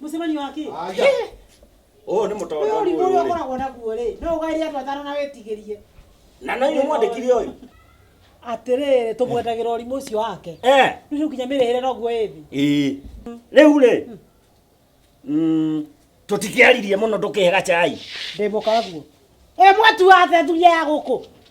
Mũcemanio wa kĩ? Aja. Ũyũ nĩ Ũyũ mũtonda ũrimũ ũrĩa mũyũ-rĩ. ũkoragwo naguo rĩ, no ũgaĩre andũ atano na wĩtigĩrie. Na no inyuĩ mwandĩkire ũyũ? Atĩrĩrĩ, tũmwendagĩra ũrimũ ũcio wake. Eh. Rĩu rĩu nginya mĩrĩhĩre noguo ĩthĩ. Ĩĩ. Rĩu rĩ. Mm, tũtikĩaririe mũno ndũkĩhe gacai. Ndĩ mũkaguo. Ĩ mwatu wa athuri aya gũkũ.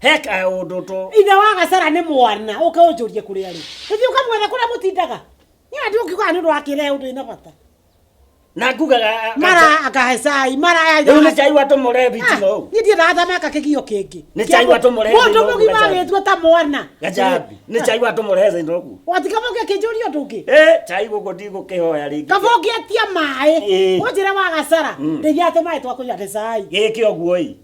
heka ũndũ tũ ithe wa gacara nĩ mwana ũke ũnjũrie kũrĩa rĩ ũthiĩ ũkamwetha kũrĩa mũtindaga nĩ andũ ũkiugaga nĩ ũndũ wa kĩrĩa ũndũ ĩna bata na ngugaga mara akahe cai mara rĩu nĩ cai watũmũre bitino ũũ niĩ ndiendaga ta meka kĩgio kĩngĩ Nĩ cai watũmũrehe mũndũ thĩinĩ wa mũgima gacaũ. agĩtua ta mwana gacambi nĩ cai watũmũre thĩinĩ ũguo watikaba ũngĩ akĩnjũria ũndũ ũngĩ Eh, cai gũkũ ndigũkĩhoya rĩngĩ kaba ũngĩatia maĩ Ĩĩ. ũnjĩre wa gacara Mm. ndĩgĩate maĩ twakũiga gĩcai gĩkĩ ũguo ĩ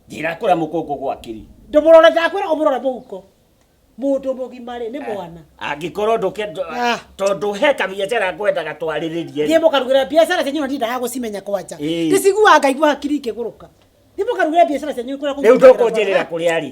njĩra kũrĩa mũkũngũ gwakĩri ndũmũrore ndakwĩra ũmũrore mũhuko mũndũ mũgima rĩ nĩ mwana angĩkorwo ndũke Ah. tondũ he kabiacara ngwendaga twarĩrĩrie thiĩ mũkarugĩra biacara cianyu na ndindaga gũcimenya kwanja Ĩĩ. ndĩciguaga ngaigua hakiri ikĩgũrũka thiĩ mũkarugĩra biacara cianyu kũrĩa rĩu kũngĩrĩra ndũkũnjĩrĩra kũrĩa rĩ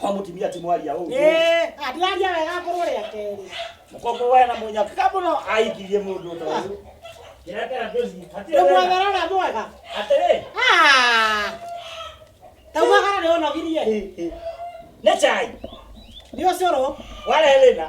Kwa mutumia ti mwaria ũũ. Eh, atiraria wega ngorwo rĩa kerĩ. Mũkombo we na mũnyaka kabo no aikirie mũndũ ũndũ ũyũ. Nĩrekera ndũthi. Hatirĩ Nĩ wĩra. mwethera ũrĩa mwega. Atĩrĩ. Ah! Tauga kana nĩ ũnogirie. Nĩ chai. Nĩ ũcũrũ. Warehe thĩna.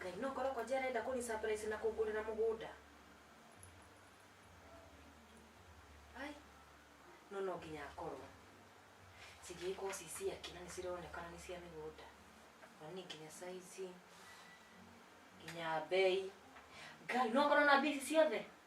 ngai no korwo konje arenda kũni surprise na kũngũrĩra mũgũnda ai no no nginya akorwo cingĩgĩkorwo ci ciake na nĩ cironekana nĩ cia mĩgũnda onĩ nginya saizi nginya mbei ngai no ngorwo na mbia ici ciothe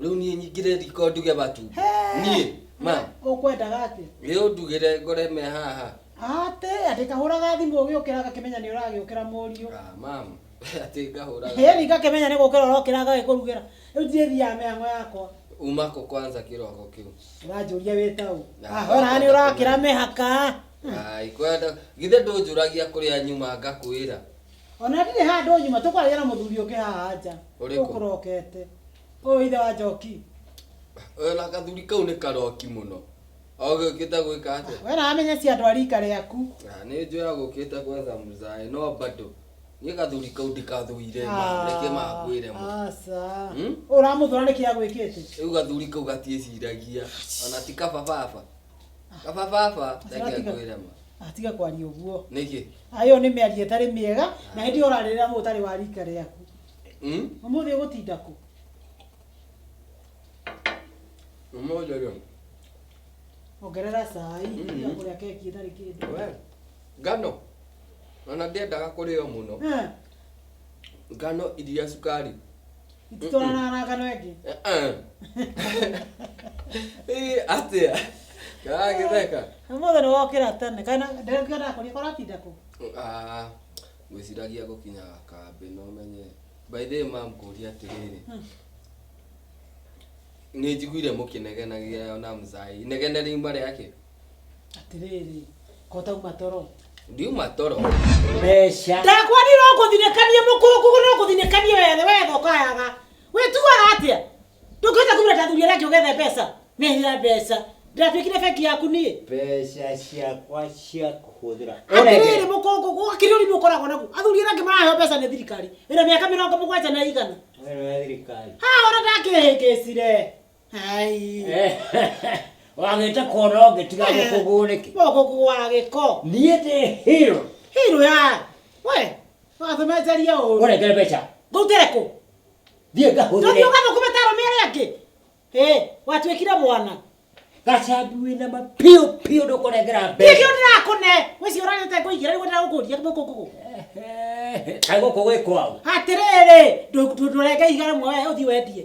rĩu niĩ nyingire riko nduge batu niĩ ma ũkwendaga atĩ ĩ ũndugĩre ngore me haha atĩ atĩ kahũraga thimũ ũgĩũkĩra ngakĩmenya nĩ ũragĩũkĩra mũriũ Ah, mam atĩ ngahũraga hĩni ngakĩmenya nĩ gũkĩra ũrokĩra ngagĩkũrugĩra rĩu ndirĩ thiaga mĩhango yakwa uma kũ kwanza kĩroko kĩu ũranjũria wĩta ũ Na, Ah, ũraga nĩ ũrakĩra mehaka Ai, kwenda githĩ ndũnjũragia kũrĩa nyuma ngakwĩra Ona ndirĩ handũ nyuma tũkwaria na mũthuri ũngĩ haha nja. Ũrĩkũ? Ũkũrokete. Ũyũ ithe wa Njoki. Oyo na kathuri kau nĩ karoki mũno. Ogĩũkĩte gwĩka atĩa? We naramenya cia andũ a rika rĩaku. Ah, Nĩ njũĩ agũkĩte gwetha mũzaĩ no bado. Niĩ kathuri kau ndikathũire ma, reke makwĩre mo. Aca. Hmm? Ũramũthũra nĩkĩ agwĩkĩte? Rĩu gathuri kau gatiĩciragia. Ona ti kaba baba. Kaba baba, reke Aratiga. ngwĩre ma. atiga kwaria ũguo Nĩkĩ? ayo nĩ mĩario ĩtarĩ mĩega na hĩndĩ ũrarĩrĩra mũndũ ũtarĩ wa rika rĩaku Hmm? ũmũthĩ ũgũtinda kũ Ũmũthĩ rĩ, ongerera cai Mhm. tiga kũrĩa keki ĩtarĩ kĩndũ we, ngano, ona ndĩendaga kũrĩo mũno. Eh, Ngano iria cukari ititwarana na ngano ĩngĩ Ĩ, atĩa ndagagĩtheka mũthĩ nĩ wokĩra tene kana ndĩrakĩenda kũria koratinda kũ Ah, ngwĩciragia gũkinyaga kambĩ no menye by the way mam kũria atĩrĩrĩ nĩ njiguire mũkĩnegenagia na mzai inegene riuma rĩake atirĩrĩ kota uma toro ndiuma toro mbeca ndakwani no kũthinĩkanie mũkũrũ kũgũ no kũthinĩkanie wethe wethe ũkayaga wĩtuaga atĩa ndũngĩhota kumĩra tathuri arĩa angĩ ũgethe mbeca nĩhia mbeca ndĩratuĩkire bengi yaku niĩ mbeca ciakwa cia kũhũthĩra atirĩrĩ mũkũngũ gũkĩrĩ ũrimũ ũkoragwo naguo athuri arĩa angĩ maraheo mbeca nĩ thirikari ĩna mĩaka mĩrongo mũgwanja na igana wena thirikari ha ona ndakĩhĩngĩcire Ai. Eh, wagĩte kuona ũngĩ tiga Eh. gũkũgũũ nĩkĩ Mũkũkũ wa gĩko. niĩ ndĩ hero Hero ya. We. Wathumenjeria ũru. ũreke mbeca Ngũtekũ. thiĩ Tũthiĩ ngahũthĩre ũgathũkũme ta arũme arĩa angĩ. Ĩ, watuĩkire mwana. gacambi wĩna mapiũ piũ ndũkũnengera Niĩ mbeca kĩo ndĩrakũne. Wĩcio ũrarĩte ngũigĩra nĩguo ndĩrakũria mũkũkũ. Ehe, kaĩ gũkũ gwĩ kwao Atĩrĩrĩ, ndũ- ndũ- ndũrenge ihiga rĩmwe we ũthiĩ wendie.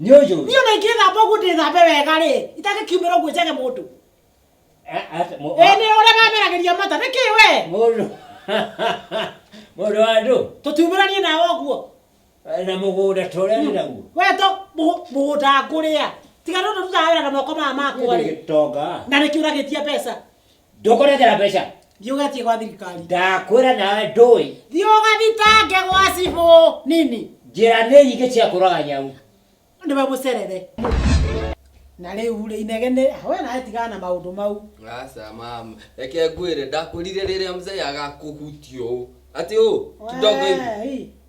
nĩ ũyũ rĩ? niĩ ona ingĩthamba ũguo ndĩthambe wega rĩ itangĩkiumĩra ũguo njage mũndũ Eh, ate- mũ- ĩ nĩ ũrĩa mameragĩria mata nĩkĩ we mũndũ mũndũ wa andũ tũtiumĩranie nawe ũguo na mũgũnda ta ũrĩa ndĩ naguo weto mũgũnda ngũrĩa tiga no tũrutaga wĩra na moko maya makwa rĩ gĩtonga na nĩkĩ ũragĩtia mbeca ndũkũrehera mbeca thiä å getie gwa thirikari ndakwĩra nawe ndũĩ thiä å gathitange gwa cibå nini njĩra nĩ nyingĩ cia kũraga nyau nä we må cerere na rä u rä inegene we nawe tigana na maå ndå mau Aca mama, reke ngwĩre ndakũrire rĩrĩa mzee agakũhutia ũũ. Atĩ ũũ, kidogo hivi. Wee,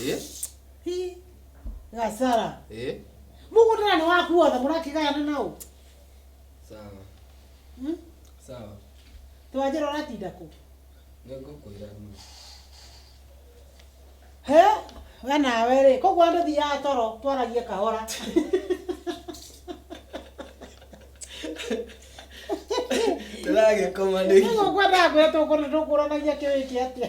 Eh? Hi. Gasara. Eh? Mungu tena ni waku wothe murakigayana nao. Sawa. Hmm? Sawa. Twajira uratinda ku. Nĩngũkwĩra ma. He? We nawe rĩ, koguo andũ thiaga toro twaragie kahora. Ndĩragĩkoma nĩ Nĩguo ngwendaga kwĩra tũkũranagia kĩwĩke atĩa.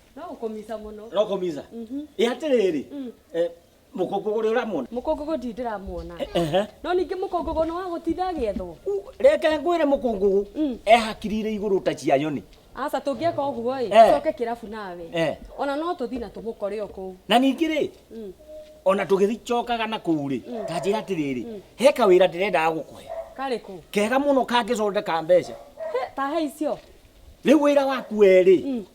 No ũkũmica mũno. no kũmiza Mhm. ĩ atĩrĩrĩ Mm. eh, mũkũngũgũ ũrĩa ũramwona Mũkũngũgũ ndirĩ ndĩramuona. Ehe. No ningĩ mũkũngũgũ nĩ wa gũtinda agĩethwo. U- reke ngwĩre mũkũngũgũ Mm. ehakirire igũrũ ta cia nyoni Aca tũngĩeka ũguo ĩ, Eh. coke kĩrabu nawe. Eh. Ona no tũthiĩ na tũmũkore o kũu. na ningĩ rĩ Mm. ona tũgĩcokaga na kũu rĩ Mm. tanjĩra atĩrĩrĩ he kawĩra ndĩrendaga gũkũhe Karĩ kũ? kega mũno kangĩcondeka mbeca He, ta he icio. rĩu wĩra waku erĩ Mm.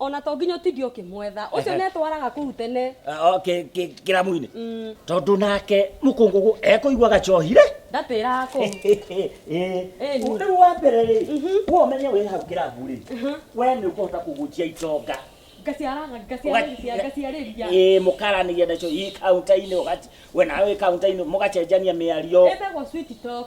ona to nginya ũtindi ũkĩmwetha ũcio Ehe. netwaraga kũu tene kĩramu-inĩ Mm, tondũ nake mũkũngũgũ ekũigua gacohire ndatĩraga kũu Ĩni. ũndũ wa mbere rĩ we ũmenye wĩ hau kĩramu rĩ we nĩ ũkũhota kũgũnjia itonga ngaciaraga ngaciarĩria ngaciarĩria Ĩĩ, mũkaranĩria nacio i kaunta-inĩ ũgaci- we nawe wĩ kaunta-inĩ mũgacenjania mĩario ĩtagwo sweet talk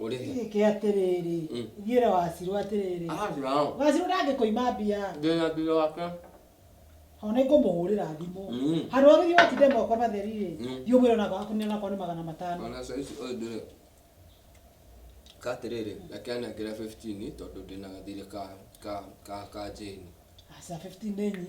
Ũrĩ he? Gĩkĩ atĩrĩrĩ, Mm. thiĩ ũrĩa wacirwo atĩrĩrĩ. Arathiĩ nao. Wacirwo ndangĩkũima mbia. Ndĩna thutha wake. Ho nĩngũmũhũrĩra thimũ. Mm. Handũ ha gũthiĩ ũgatinde moko matheri rĩ, Mm. thiĩ ũmwĩre onakorwo akũnĩ onakorwo nĩ magana matano. Ona saa ici ũyũ ndĩrĩ. Ka atĩrĩrĩ, reke anengere 15 tondũ ndĩna gathirĩ ka ka ka ka njĩni. Aca 15 nĩ nyi.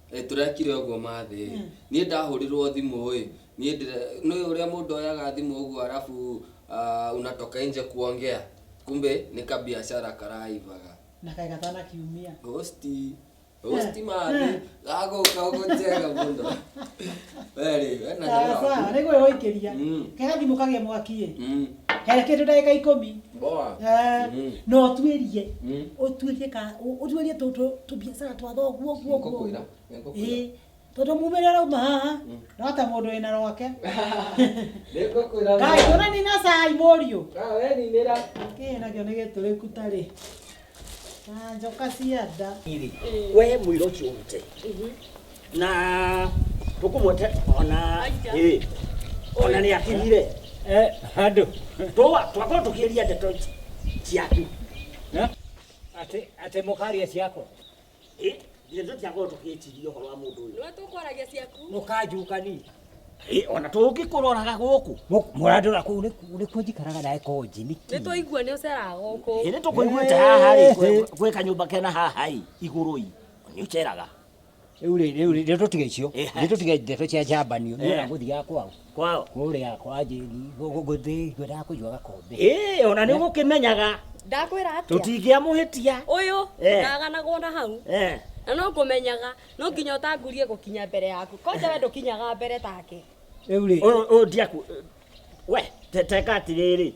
Ĩ, tũrekire ũguo mathĩ ĩ niĩ ndahũrirwo thimũ ĩ niĩ ndĩre nĩũĩ ũrĩa mũndũ oyaga thimũ ũguo arabu ah, unatoka nje kuongea kumbe nĩ kabiacara karaivaga na kaĩ gatana kiumia hosti hosti mathĩ gagũka ũguo njega mũno werĩ wena wĩra waku. nä gwä hoikä ria Mm. kega thimå kagä mwaki ä Mm. he kindu ndagika ikumi Ngoa. Eh, Mm. na ũtuĩrie Mm. ũtuĩrie ka ũ- ũtuĩrie tũ- tũ- tũbiacara twa thoguo guo guo Ngũkwĩra. Ngũkwĩra. Ĩĩ, tondũ mumĩrĩra rauma haha rota mũndũ wĩna rwake Ngũkwĩra. kaĩ tũrani na cai mũriũ Ah, we ninĩra. kĩĩ nakĩo nĩ gĩtũrĩku tarĩ Na njoka cia nda. Hivi, we mwira ucio urute na tukumwete ona ĩ ona nĩ akinyire Eh, handũ twa twakorwo tũkĩria ndeto ici ciaku atĩ atĩ mũkaria ciakwa Eh, githĩ tũtiakorwo tũgĩtiria ũhoro wa mũndũ ũyũ nĩwe tũkwaragia ciaku mũkanjũkani Eh, ona tũngĩkũroraga gũkũ mũrandora kũu nĩku- nĩkuo njikaraga nawe konji nĩ nĩkĩ twaigua nĩ ũceraga gũkũ ĩ nĩ tũkũiguĩte haha rĩ gwĩ- gwĩ kanyũmba kena haha ĩ igũrũ ĩ nĩ ũceraga rĩu rĩ rĩu rĩ rĩu tũtige icio Eh, rĩu tũtige ndeto cia njambanio nĩ Eh. ũragũthiaga kwao kwao kũrĩa kwa njĩri ngũthĩ ngwendaga kũigua gakombe ĩĩ ona nĩ ũgũkĩmenyaga ndakwĩra atĩa tũtingĩamũhĩtia ũyũ Eh. ndaganagwo na hau Eh, na no ngũmenyaga no nginya ũtangurie gũkinya mbere yaku kwanja we ndũkinyaga mbere take rĩu rĩ ũyũ ũyũ ndiaku we te- teka atĩrĩrĩ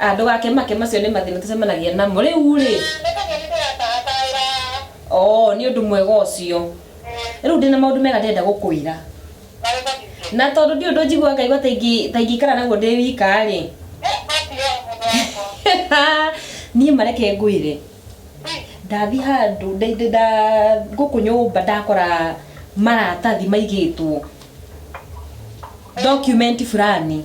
Ah, ndũgakĩmake macio nĩ mathĩna tũcemanagia namo rĩu rĩ oo nĩ ũndũ mwega ũcio rĩu ndĩna maũndũ mega ndĩrenda gũkwĩra na tondũ ndiũ ũndũ njigua ngaigua ta ingĩ- ta ingĩikara naguo ndĩ wika rĩ niĩ mareke ngwĩre ndathi handũ ndĩ- ndĩ- nda- gũkũ nyũmba ndakora maratathi maigĩtwo document fulani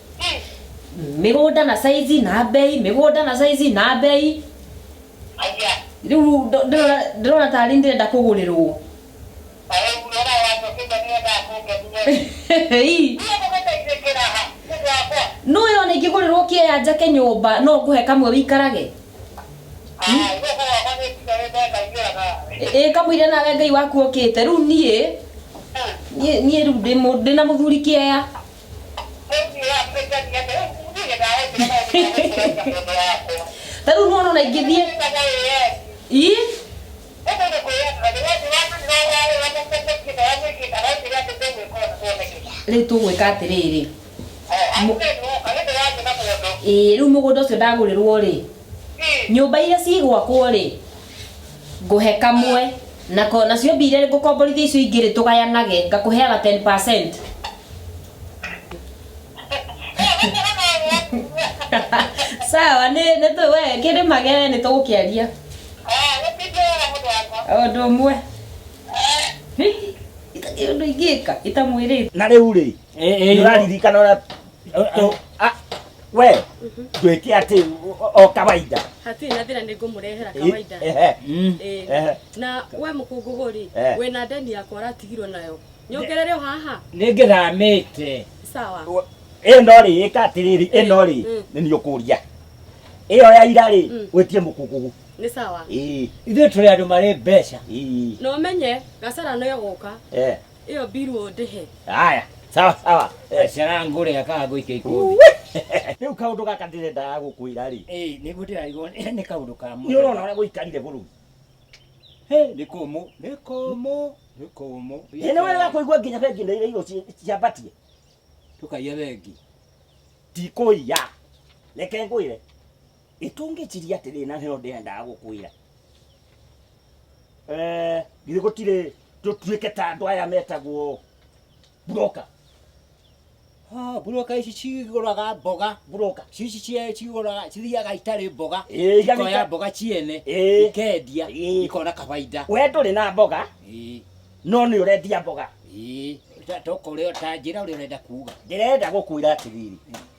mĩgũnda na saizi na mbei mĩgũnda na saizi na mbei Aya. rĩu ndo- ndĩrona ndĩrona tarĩ ndĩrenda kũgũrĩrwo Ayo unaona watu wakija ni ndio akunge ndio. Ii, Ndio kumeta isekera ha. Mungu wako. nũ yona ingĩgũrĩrwo kĩaya njake nyũmba no ngũhe kamwe wĩikarage Ah, ndio kwa wako ni ndio ndio kaingira ka. Ĩ- ĩ kamũire nawe ngai waku okĩte rĩu niĩ niĩ niĩ rĩu ndĩ mũ- ndĩ na mũthuri kĩaya ta rĩu nĩwona ona ingĩthiĩ ii rĩu tũgwĩka atĩrĩrĩ ĩĩ rĩu mũgũnda ũcio ndagũrĩrwo rĩ nyũmba iria cigwakwo rĩ ngũhe kamwe na ko- nacio mbia iria ngũkomborithia icio ingĩ rĩ tũgayanage ngakũheaga 10 sawa nĩ nĩ tũ- we kĩrĩma gere nĩ tũgũkĩaria o ũndũ ũmwe itakĩ ũndũ ingĩka itamwĩrĩte na rĩu rĩ nĩũraririkana ũrĩa we ngwĩke atĩ o kawaida hatirĩ na thĩna nĩ ngũmũrehera kawaida na we mũkũngũgũ rĩ wĩ na ndeni yakwa ũratigirwo nayo nyongerere o haha nĩ ngĩramĩte sawa ĩno rĩ ĩka atĩrĩrĩ ĩno rĩ nĩ niĩ ũkũria ĩyo ya ira rĩ gwĩtie mũkũngũgũ nĩ sawa ithuĩ tũrĩ andũ marĩ mbeca no menye gacara no gũka Iyo biru ndihe. Haya, sawa sawa. Eh, Ciana yangu rĩ akaga gũikia ikundi. Rĩu kaũndũ gaka ndĩrendaga gũkwĩra rĩ. Eh, nĩguo ndĩrarigwo nĩ kaũndũ ka mũthemba. Nĩ ũrona ũrĩa gũikarire bũrũri. Hey, nĩ kũmũ, nĩ kũmũ, nĩ kũmũ. Ĩ nĩ wega wa kũigua nginya bengi nĩ irĩirwo ci- ciambatie. Tũkaiya bengi. Tikũiya. Reke ngwĩre. Itungĩciria atĩrĩ na nĩyo ndĩendaga gũkwĩra. Eh, githĩ gũtirĩ tũtuĩke ta andũ aya metagwo broker. Ha, broker ici cigũraga mboga, broker. Cici cia cigũraga cithiaga itarĩ mboga. Ĩĩ, iga Ikoya nĩka- mboga ciene, Ĩĩ. ikendia, Ĩĩ. ikona kabaida. We ndũrĩ na mboga Ĩĩ, no nĩ ũrendia mboga. ĩĩ. Ta- Toka ũrĩa ta njĩra ũrĩa ũrenda kuga. Ndĩrenda gũkwĩra atĩrĩrĩ,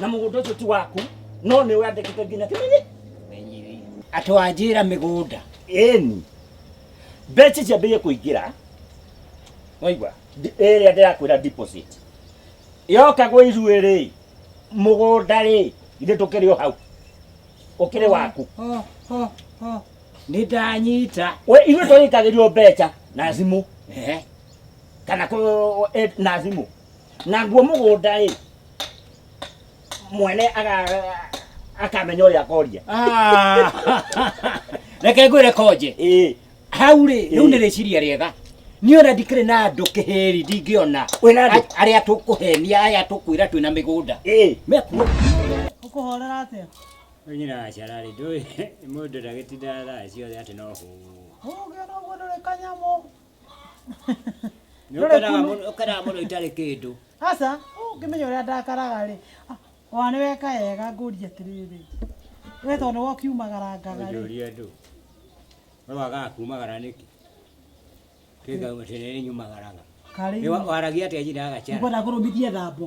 na mũgũnda ũcio ti waku no nĩ wandĩkĩte nginya kĩmenyi atwanjĩra mĩgũnda ĩni mbeca icio ambĩrĩrie kũingĩra waigua Ndi- ĩrĩa ndĩrakwĩra deposit yoka gwĩ ithuĩ rĩ mũgũnda rĩ ithuĩ tũkĩrĩ o hau ũkĩrĩ waku Ho, ho, ho. nĩ ndanyita We, ithuĩ tũrĩkagĩrio mbeca na thimũ Ehe. kana kũ- e- na thimũ naguo mũgũnda-ĩ mwene aga- akamenya ũrĩa akoria Ah. reke ngwĩre konje ĩĩ hau rĩ rĩu Ĩĩ. nĩ rĩciria rĩega niĩ ona ndikĩrĩ na andũ kĩhĩri ndingĩona Wĩna andũ? A- arĩa tũkũhenia aya tũkwĩra twĩna mĩgũnda ĩĩ mekuo Ũkũhorera atĩa? nyina acararĩ ndũĩ mũndũ ndagĩtinda thaa ciothe atĩ no hũũ Ũgĩona ũguo ndũrĩ kanyamũ. Nĩ Ndũrĩ ũkenaga kunu. mũno- ũkenaga mũno itarĩ kĩndũ aca ũngĩmenya ũrĩa ndakaraga rĩ wa nĩ weka wega ngũria atĩrĩrĩ we tondũ nĩwe ũkiumagarangaga rĩ ũjũria andũ we wagaga kumagara nĩkĩ kĩngauma tene nĩ nyumagaraga karĩ Nĩ wa- waragia atĩa njina ya gacara ngwenda kũrũmithia thambo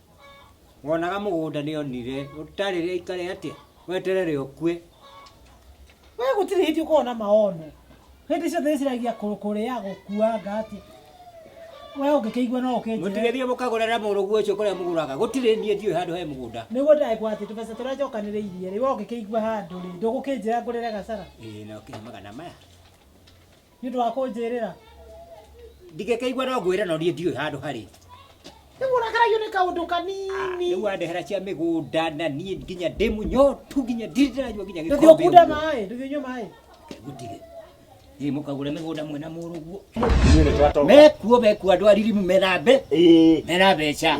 wonaga mũgũnda nĩ onire ũtarĩrĩa ikare atĩa weterere ũkue we gũtirĩ hĩndĩ ũkorwo na maono hĩndĩ ciothe ĩciragia kũrĩa gũkuanga atĩ we ũngĩkĩigua no ũkĩnjĩre mũtigĩthiĩ mũkagũrĩra mũrũguo ũcio kũrĩa mũgũraga gũtirĩ niĩ ndiũĩ handũ he mũgũnda nĩguo ndagĩkwa atĩ tũbeca tũrĩa njokanĩrĩirie rĩ we ũngĩkĩigua handũ rĩ ndũgũkĩnjĩra ngũrĩre gacara ĩĩ no kĩhe magana maya nĩ ũndũ wa kũnjĩrĩra ndingĩkĩigua no ngwĩre no niĩ ndiũĩ handũ harĩ nĩ mũrakaragio nĩ kaũndũ kanini rĩu wandehera cia mĩgũnda na niĩ nginya ndĩ mũnyotu nginya ndirĩ ndĩranyua nginya ndũthiĩ gĩkombe ũkunde ũguo. maĩ ndũthiĩ ũnyue maĩ Gũtirĩ. Thiĩ mũkagũre mĩgũnda mwena mũrũguo mekuo mekuo andũ a ririmu mena mbe mena mbeca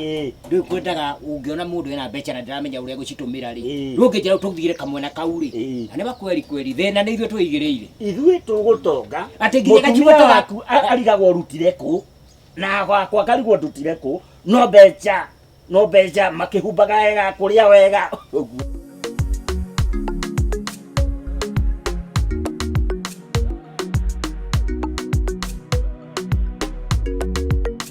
rĩu kwendaga ũngĩona mũndũ ena mbeca na ndaramenya ũrĩa gũcitumira rĩ Eh. ndũngĩnjĩra ũtũgire kamwena kau rĩ Eh. na nĩ wakweri kweri thĩna nĩ ithuĩ twĩigĩrĩire ithuĩ tũgũtonga Atĩ nginya mũtumia gacuba waku a- arigagwo ũrutire kũ na gwakwa ngarigwo ndutire kũ no mbeca no mbeca makĩhumbaga wega kũrĩa wega ũguo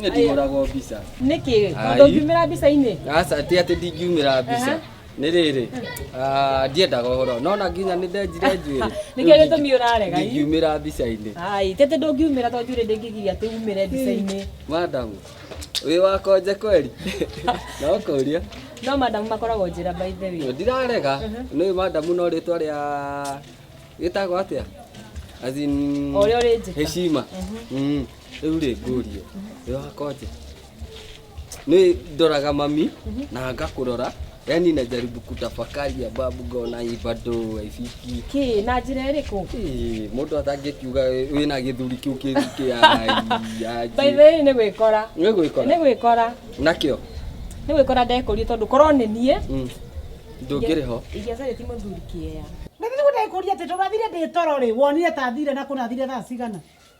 Niĩ ndihũragwo mbica. nĩkĩ Ai. tondũ ngiumĩra mbica-inĩ Aca atĩ atĩ ndingiumĩra mbica. Aha. Nĩ rĩrĩ, ah, ndiendaga ũhoro. Nona nginya nĩ ndenjire njuĩrĩ. Nĩkĩo Rĩu gĩtũmi ũrarega, ii. Ndingiumĩra mbica-inĩ. ai tete ndũngiumĩra tondũ njuĩrĩ ndĩngĩgiria atĩ umĩre mbica-inĩ Madam, wĩ wakonje kweli? Na ũkũria. no madamu makoragwo njĩra by the way Ndirarega. Nĩ madam no rĩtwa rĩa gĩtagwo atĩa? As in, Ũrĩa ũrĩ njĩka. Heshima. Mm. Rĩu rĩ ngũrie, wĩ wa konje? Nĩ ndoraga mami na ngakũrora yani najaribu kutafakari ababu ngona hii bado haifiki Kĩ, na njĩra ĩrĩkũ? Ĩĩ, mũndũ atangĩkiuga wĩna gĩthuri kĩu kĩru kĩa By the aji way nĩ gwĩkora. Nĩ Nĩ gwĩkora gwĩkora. nakĩo Nĩ gwĩkora ndekũrie tondũ korwo nĩ niĩ. Mm. ndũngĩrĩ ho Ingĩaca rĩti mũthuri kĩea. Nĩ ndĩrenda gũkũria atĩ ndũrathire ndĩ toro rĩ, wonire ta thire na kũrathire thaa cigana?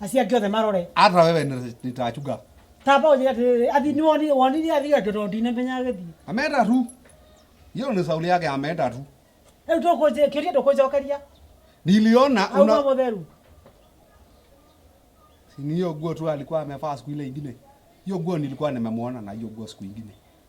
acio angĩ othe marore ata wewe nĩ- nĩtachunga tamba ũthire atĩrĩrĩ athi nĩ wonire wonire athiga kĩndo ndinamenya agĩthiĩ ameenda tu hiyo ni sauli yake ameenda tu rĩu ndũkũnjĩ- kĩũria ndũkũnjokeria niliona auma una mũtheru ni hiyo nguo tu alikuwa amevaa siku ile ingine hiyo nguo nilikuwa nimemwona na hiyo nguo siku ingine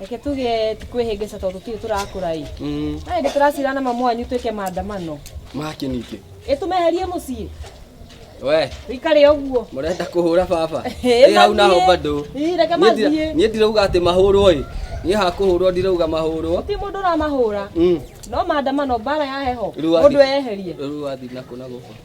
Reke tuge ti kwĩhĩngĩca tondũ tũtirĩ tũrakũra-ĩ. Na hĩndĩ tũracira na mamu wanyu twĩke maandamano. Makĩ ningĩ. Ĩ tũmeherie mũciĩ? We, Wĩikare ũguo. mũrenda kũhũra baba. Ĩ, Ĩ hau naho mathiĩ. bado. Ĩ, reke Niĩ ndira- mathiĩ. Niĩ ndirauga atĩ mahũrwo-ĩ. Niĩ hakũhũrwo ndirauga mahũrwo. Gũtirĩ mũndũ ũramahũra. Mm. No maandamano, mbaara ya heho. Rĩu wathi- Mũndũ eyeherie. Rĩu wathi nakũ na gũkũ.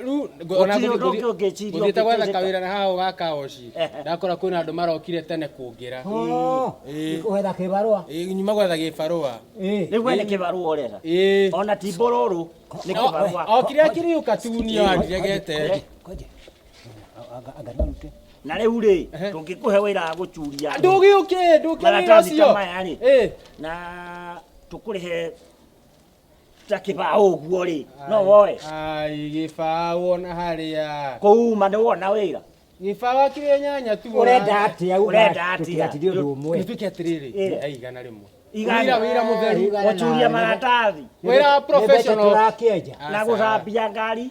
rĩu ngũ- ona Gũtirĩ ũndũ ũngĩ gũthiĩ- ũngĩciria gũthiĩte gwetha ũngĩteithĩka. kawĩra na haha ga kaoci Ehe. ndakora kwĩna andũ marokire tene kũngĩra Oh, Ĩĩ. gwetha kĩbarũa Ĩĩ, nyuma gwetha gĩbarũa Ĩĩ. nĩguo nĩ kĩbarũa ũretha Ĩĩ. ona ti mbororo nĩ No, kĩbarũa okire akiriuka tu niyo andiregete Ngoja. Anga- anga narute. na rĩu rĩ Ehe. tũngĩkũhe wĩra wa gũcuria andũ, ndũgĩũke ndũkĩra Maratathi ta ũcio maya rĩ. Ĩĩ. na tũkũrĩhe ta kibaũ ũguo rĩ no woe ai gĩbaa wona harĩa kũuma nĩ wona wĩra gĩbaa wakire nyanya tu urenda atia Urenda atĩa? tũtiratithio ũndũ ũmwe nĩtwĩke atĩrĩrĩ Eh. ai igana rĩmwe Igana. Wĩra- wĩra mũtheru Igana. ũcuria maratathi wĩra professional tũrakĩenja na gũthambia ngari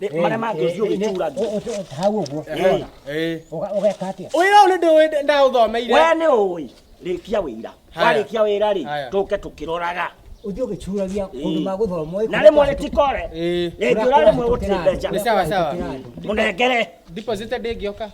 marĩa mangĩ ũthiĩ ũgĩcuragia Ũ- ũ- ũ- hau ũguo ũrona? Eh. Ũga- ũgeka atĩa Ũyũ nĩ ndũĩ ndaũthomeire. we nĩ ũĩ rĩkia wĩira Haya. warĩkia wĩra rĩ Haya. tũke tũkĩroraga ũthiĩ ũgĩcuragia ũndũ ma gũthomwo na rĩmwe rĩtikore Eh. rĩngĩ ũra rĩmwe gũtirĩ mbeca Nĩ sawa sawa. mũnengere Deposit ndĩngĩoka.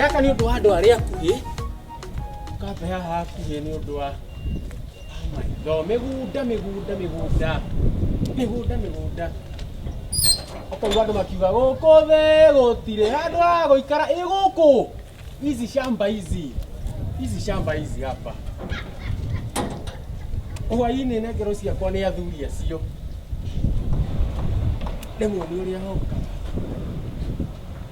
Gaka nĩ ũndũ wa andũ arĩa akuhĩ, ũkambea hakuhĩ nĩ ũndũ wa No, mĩgũnda mĩgũnda mĩgũnda mĩgũnda mĩgũnda ũkaigua andũ makiuga gũkũ thĩ gũtirĩ handũ ha gũikara ĩ gũkũ hizi shamba hizi hizi shamba hizi hapa hwainĩ na ngero ciakwa nĩ athuri acio rĩmwe nĩ ũrĩa hoka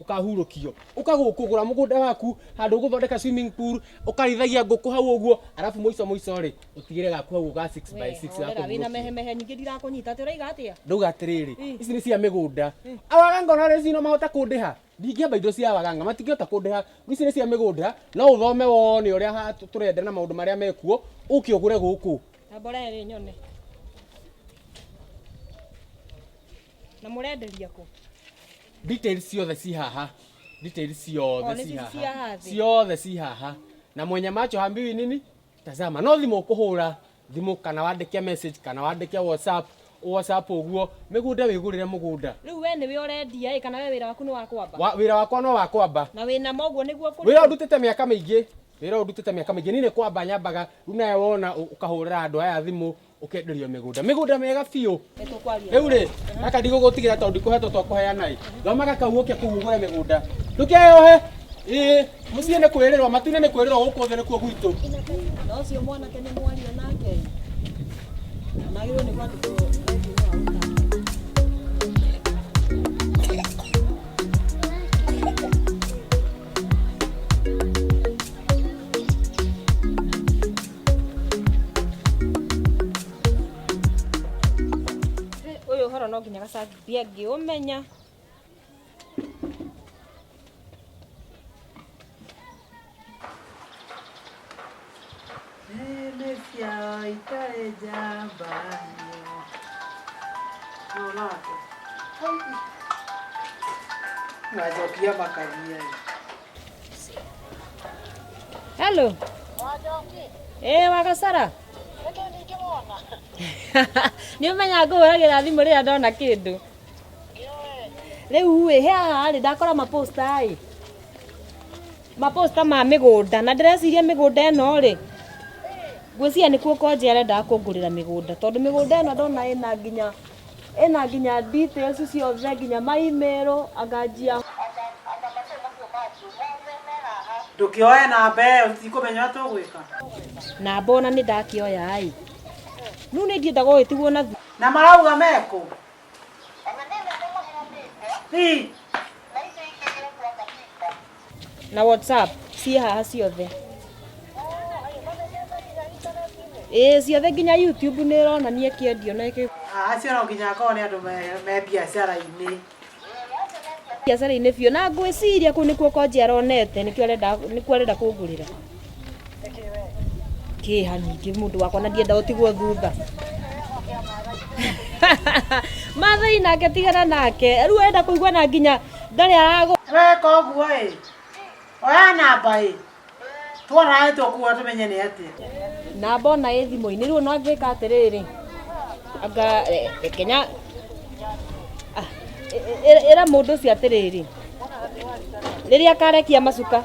ukahurukio ukagukugura mugunda waku handu uguthondeka swimming pool ukarithagia nguku hau uguo arafu muico muico ri utigire gaku hau ga 6 by 6 ga Wera, wĩna mehemehe nyingĩ ndirakunyita atĩ ũraiga atĩa ndauga atiriri ici ni cia migunda awaganga ona rĩu no mahota kundiha ndingĩamba indo cia awaganga matingĩhota kundiha ici ni cia migunda no uthome wone uria turenda na maundu maria mekuo uke ugure guku na mboree rĩ nyone na mũrenderia kũ Details ciothe ci haha. Details ciothe ci haha. Ciothe ci haha. Na mwenye macho hambiwi nini? Tazama. No thimo kuhura thimo kana wandike message kana wandike WhatsApp WhatsApp uguo migunde wigurire mugunda. Riu we ni we urendia i kana we wira waku ni wa kwamba? Wa, wira wakwa no wa kwamba. Na wina mo uguo niguo kuri. Wira ndutite miaka mingi. Wira ndutite miaka mingi. Ni ni kwamba nyambaga riu nawe wona ukahurira andu aya thimu ukenderio migunda migunda mega biũ riu ri gaka ndigũgũtigĩra tondũ ndikũhetwo twa kũheana ĩ thoma gaka uoke kũu ũgũre migunda ndũkeyohe ĩ mũciĩ nĩ kwĩrĩrwo matuinĩ nĩ kwĩrĩrwo gũkũ thĩ nĩkuo gwitũ na ũcio mwanake nĩ mwaria nake magĩrĩirwo nĩ kwandĩkwo Ũyũ ũhoro no nginya gacangi ndiangĩũmenya. Nene ciao itarĩ njamba nĩo. Nona atĩ. Ngacokia makania. Hello. Eh wagasara. Nĩ ũmenya ngũhũragĩra thimũ rĩrĩa ndona kĩndũ. Rĩu ĩ he haha rĩ ndakora maposta ĩ. Maposta ma mĩgũnda na ndĩreciria mĩgũnda ĩno rĩ. Ngwĩciria nĩkuo Konje arendaga kũngũrĩra mĩgũnda tondũ mĩgũnda ĩno ndona ĩna nginya Ĩna nginya details ciothe nginya ma email anganjia. Ndũkĩoe namba ĩyo tũtikũmenya ũrĩa tũgwĩka. Namba ona nĩ ndakĩoya ĩ. Rĩu nĩ ingĩenda gũgĩtigwo na. Na marauga mekũ? Ĩ. na whatsapp ciĩ haha ciothe ĩĩ ciothe nginya youtube nĩ ĩronania kĩendio na ĩkĩ acio no nginya akorwo nĩ andũ me- me biacara-inĩ biacara-inĩ biũ na ngwĩciria kũu nĩkuo konje aronete nĩkĩo arenda nĩkuo arenda kũngũrĩra kĩha nyingĩ mũndũ wakwa na ndienda ũtigwo thutha mathai nake tigana nake rĩu wenda kũigua na nginya ndarĩ aragũ weka ũguo ĩ oya namba ĩ twaraĩ tũkuwa tũmenye nĩ atĩa na mbona ĩ thimũ-inĩ rĩu no angĩka atĩrĩrĩ anga eh, eh, kenya Ah, ĩ- ĩ- ĩra mũndũ ũcio atĩrĩrĩ rĩrĩa akarekia macuka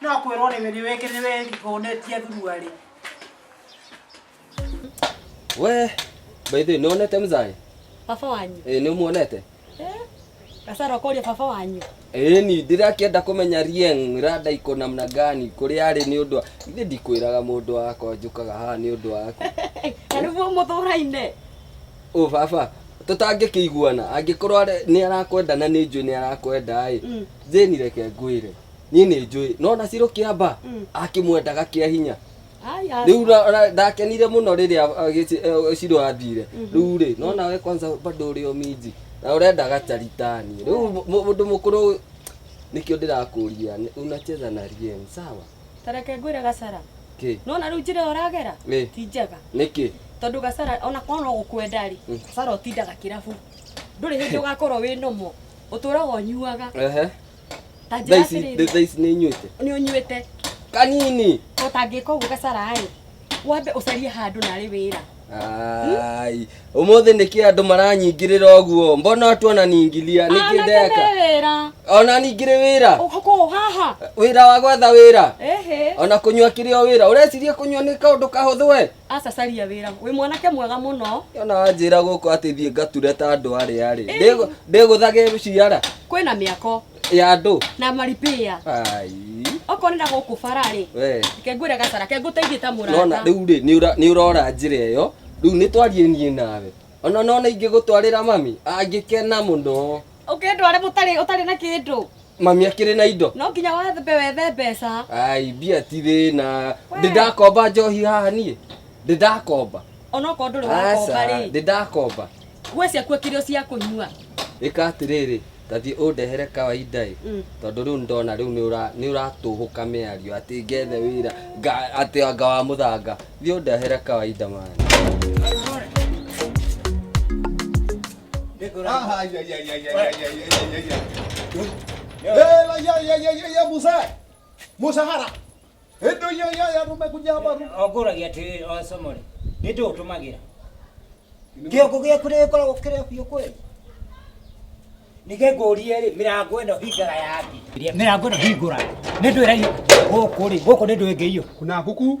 No kwĩrwo nĩ nĩ wĩkĩ nĩ wĩhũnĩtie thurua rĩ. We, by the way, nĩwonete mzai? Baba wanyu. Ĩ, nĩũmuonete? Gasaro kũria baba wanyu. Ĩ, ni ndĩrakĩenda kũmenya Rieng rada iko namna gani kũrĩa arĩ nĩ ũndũ wa... Ithe ndikwĩraga mũndũ wakwa njũkaga haha nĩ ũndũ waku. Na nĩguo mũthũraine. Ũ baba, tũtangĩkĩiguana, angĩkorwo arĩ- nĩ arakwenda na nĩ njũĩ nĩ arakwenda-ĩ, Jane reke ngwĩre niĩ nĩ njũĩ no na cirũ kĩamba Mm. akĩmwendaga kĩa hinya Aya. rĩu na- na- ndakenire mũno rĩrĩa uh, gĩci- eh, cirũ athire rĩu rĩ no nawe kwanza bado ũrĩ o minji na ũrenda gacaritani rĩu mũ- mũ- mũndũ mũkũrũ nĩkĩo ndĩrakũria nĩ- unacheza na rien sawa Tareke ngwĩre gacara. kĩ Nona rĩu njĩra ĩyo ũragera Ĩ. ti njega. nĩkĩ Tondũ gacara ona korwo no gũkwenda rĩ, gacara ũtindaga kĩrabu. ndũrĩ hĩndĩ ũgakorwo wĩ nomo ũtũraga ũnyuaga Ehe. ta Thaa njĩra ici atĩrĩrĩ thaa ici nĩ inyuĩte nĩ ũnyuĩte kanini ũtangĩka ũguo gacaraĩ wambe ũcarie handũ narĩ wĩra Ai, ũmũthĩ nĩkĩ andũ maranyingĩrĩra ũguo mbona watu wananingilia nĩkĩ ndeka wĩra ona ningĩrĩ wĩra ũkũ haha wĩra wa gwetha wĩra ehe ona kũnyua kĩrĩ o wĩra ũreciria kũnyua nĩ kaũndũ kahũthũ we Aca caria wĩra. Wĩ mwanake mwega mũno. Ona wanjĩra gũkũ atĩ thiĩ ngature ta andũ arĩa rĩ. Ndĩgũ- Ndĩgũthage ciara Kwĩna mĩako ya andũ. na maripĩa. Ai. Okorwo nĩ na gũkũ bara rĩ, We. reke ngwĩre gacara, reke ngũteithie ta Nona mũrata. rĩu rĩ nĩ ũra- nĩ ũrora njĩra ĩyo. Rĩu nĩ twarie niĩ nawe. Ona nona ingĩgũtwarĩra mami angĩkena mũno. ũkĩndware mũtarĩ ũtarĩ na kĩndũ mami akĩrĩ na indo no nginya wethe wethe mbeca ai mbia ti thĩna We. ndĩndakomba njohi haha niĩ ndĩndakomba onokorwo ndũrĩ wakomba rĩ ndĩndakomba nguo ciaku akĩrĩ o cia kũnyua ĩka atĩrĩrĩ tathiĩ ũndehere kawaida ĩ Mm. tondũ rĩu ndona rĩu nĩ ũra- nĩ ũratũhũka mĩario atĩ ngethe wĩra nga- atĩ anga wa mũthanga thiĩ ũndehere kawaida mani Musa, Musa hara ĩndũ iyo iyo ya tumekuja hapa ongũragia atĩrĩrĩ o somore nĩ ndĩũtũmagĩra kĩongo gĩaku nĩ gĩkoragwo kĩrĩa biũ kweli nige ngũrie rĩ mĩrango ĩno hingara yaki mĩrango ĩno hingũra nĩ ndwĩraio gũkũ rĩ gũkũ nĩ ndwĩngĩio kuna kuku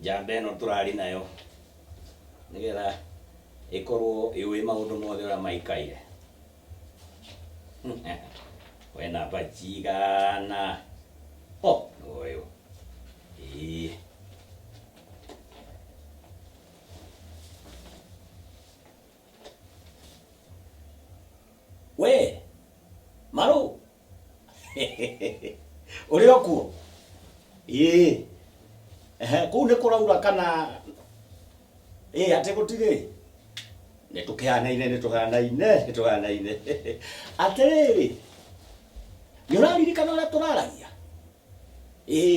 njamba ĩno tũrarĩ nayo nĩgetha ĩkorwo ĩũĩ maũndũ mothe ũrĩa maikaire we namba cigana o nĩwoyũ ĩĩ we marũ ũrĩ o kuo ĩĩ Ehe, kũu nĩ kũraura kana ĩĩ atĩ gũtirĩ nĩ tũkĩhanaine nĩ tũhanaine nĩ tũhanaine atĩrĩrĩ nĩ ũraririkana ũrĩa tũraragia ĩĩ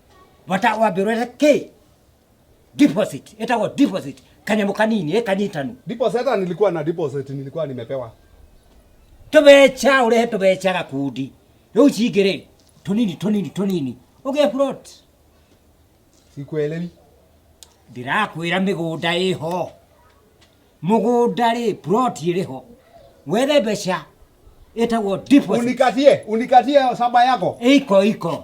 bata wambirwo ĩre kĩ deposit ĩtagwo deposit kanyamũ kanini ĩ kanyitanu Deposit hata nilikuwa na deposit nilikuwa nimepewa. tũbeca ũrehe tũbeca gakundi rĩu cingĩrĩ tũnini tũnini tũnini ũgĩe plot Sikuelewi. ndĩrakwĩra mĩgũnda ĩho mũgũnda rĩ plot ĩrĩ ho wethe mbeca ĩtagwo deposit Unikatie, unikatie shamba yako. iko iko